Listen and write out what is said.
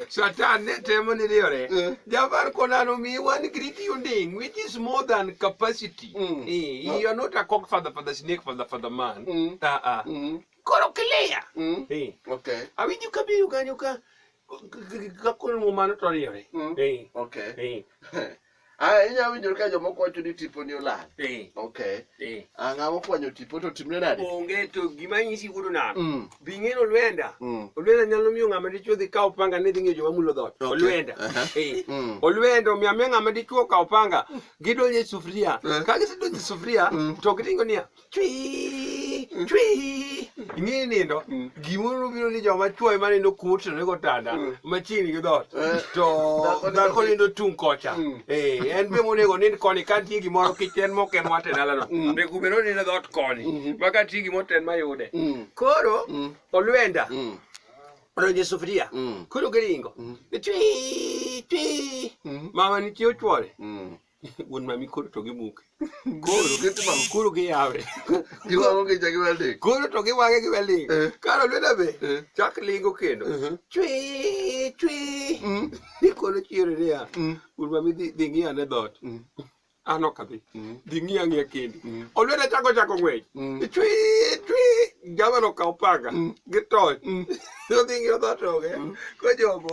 Satan ne temo ni riore. Eh. Javar Konano mi one great thing which is more than capacity. Mm. Eh, you are not a cock father for the snake for the for the man. Mm. Uh -uh. Mm. Koro clear. Mm. Eh. Okay. Awinji kabiru kanyo ka kakon mo mano to riore. Mm. Eh. Okay. Eh. Ah, inya winjo ka jomoko wacho ni tipo ni olal. Eh. Okay. Eh. Ah, ng'ama okwanyo tipo to timne nade? Onge to gima nyisi wuodo nano. Mm. Bing'e no lwenda. Mm. Olwenda nyalo miyo ng'ama dichuo dhi kawo panga ni dhi ng'iyo joma mulo dhot. Okay. Olwenda. Uh -huh. eh. mm. Olwenda omiyo amiyo ng'ama dichuo kawo panga gidonje sufuria. Uh eh. -huh. Ka gisedonje sufuria mm. to gitingo niya. chwi chwi ing'eyo nindo gimoro biro ni joma chwo ema nindo kuotrene gotanda machiegni gi dhoot to dhako nindo tung' kocha Eh, en be monego nind koni ka nitie gimoro kich en moken wate dalano be kubero nindo dhoot koni ma ka nitie gimoro to en mayude koro olwenda odonjo e sufuria koro giringo chwi chwi mama nitie ochwore wuon mami koro to gimuke koro gitmamo koro giyawe giwang'o gi jagi welding koro to giwang'e gi welding eh. karo lweda be eh. chak lingo kendo uh-huh. chwi chwi mm. ni koro chiero niya mm. wuon mami dhi ng'iya ne dhoot mm. an ok adhi dhi ng'iya ng'iya kendi olweda chako chako ng'wech chwi chwi jamano kaw panga gi toch odhi ng'iyo dhoot oge kojogo